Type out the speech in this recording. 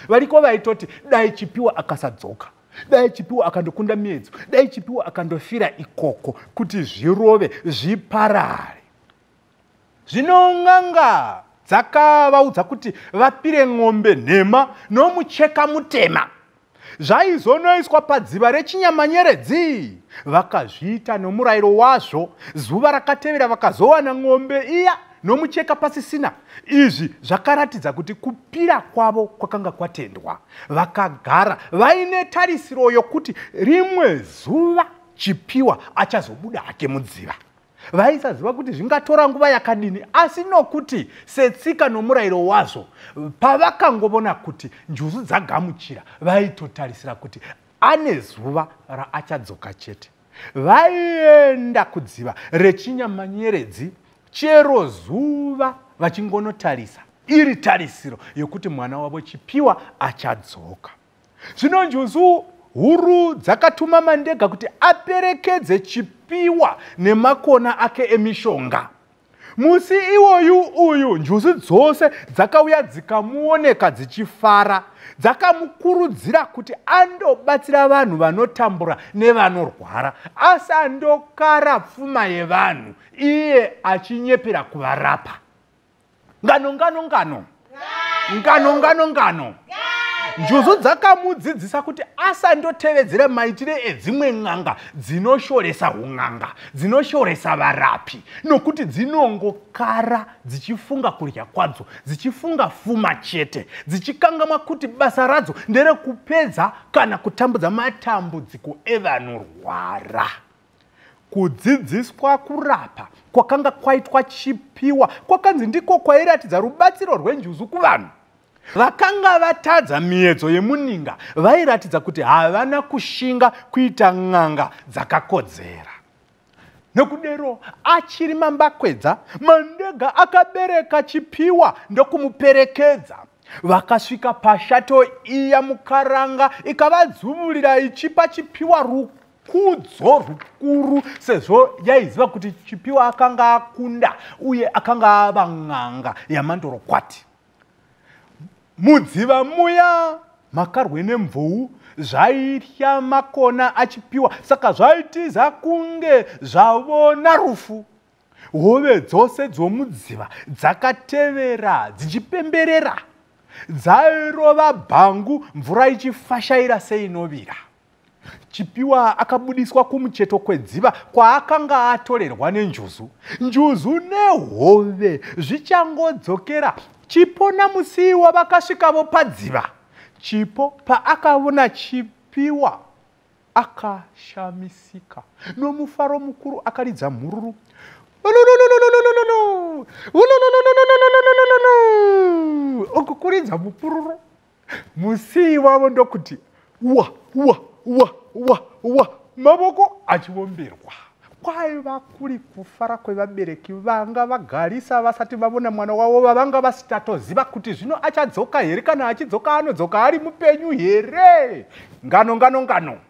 variko vaitoti dai chipiwa akasadzoka dai chipiwa akandokunda miedzo dai chipiwa akandofira ikoko kuti zvirove zviparare zvino nganga dzakavaudza kuti vapire n'ombe nhema nomucheka mutema zvaizonoiswa padziva rechinyamanyeredzi vakazviita nomurayiro wazvo zuva rakatevera vakazowana n'ombe iya nomucheka pasisina izvi zvakaratidza kuti kupira kwavo kwakanga kwatendwa vakagara vaine tarisiro yokuti rimwe zuva chipiwa achazobuda hake mudziva vaisaziva kuti zvingatora nguva yakadini asi nokuti setsika nomurayiro wazvo pavakangovona kuti njuzu dzagamuchira vaitotarisira kuti ane zuva raachadzoka chete vaienda kudziva rechinyamanyeredzi chero zuva vachingonotarisa iri tarisiro yokuti mwana wavo chipiwa achadzoka zvino njuzu huru dzakatuma mandega kuti aperekedze chipiwa nemakona ake emishonga musi iwoyu uyu njuzu dzose dzakauya dzikamuoneka dzichifara dzakamukurudzira kuti andobatsira vanhu vanotambura nevanorwara asi andokara pfuma yevanhu iye achinyepera kuvarapa ngano ngano ngano ngano ngano ngano njuzu dzakamudzidzisa kuti asandotevedzera maitire edzimwe n'anga dzinoshoresa un'anga dzinoshoresa varapi nokuti dzinongokara dzichifunga kudya kwadzo dzichifunga fuma chete dzichikangamwa kuti basa radzo nderekupedza kana kutambudza matambudziko evanorwara kudzidziswa kurapa kwakanga kwaitwa chipiwa kwakanzi ndiko kwairatidza rubatsiro rwenjuzu kuvanhu vakanga vatadza miedzo yemuninga vairatidza kuti havana kushinga kuita n'anga dzakakodzera nokudero achiri mambakwedza mandega akabereka chipiwa ndokumuperekedza vakasvika pashato iya mukaranga ikavadzuvurira ichipa chipiwa ruku kudzo rukuru sezvo yaiziva kuti chipiwa akanga akunda uye akanga ava n'anga yamandorokwati mudziva muya makarwe nemvou zvaitya makona achipiwa saka zvaitiza kunge zvavona rufu hove dzose dzomudziva dzakatevera dzichipemberera dzairova bhangu mvura ichifashaira seinovira chipiwa akabudiswa kumucheto kwedziva kwaakanga atorerwa nenjuzu njuzu nehove zvichangodzokera chipo namusiiwa vakasvikavo padziva chipo paakavona chipiwa akashamisika nomufaro mukuru akaridza mhururu ukukuridza mupururu musii wavo ndokuti wa wa wa wa wa mavoko achivomberwa kwaiva kuri kufara kwevabereki vanga vagarisa vasati vavona mwana wavo vavanga vasitatoziva kuti zvino achadzoka here kana achidzoka anodzoka ari mupenyu here ngano ngano ngano, ngano.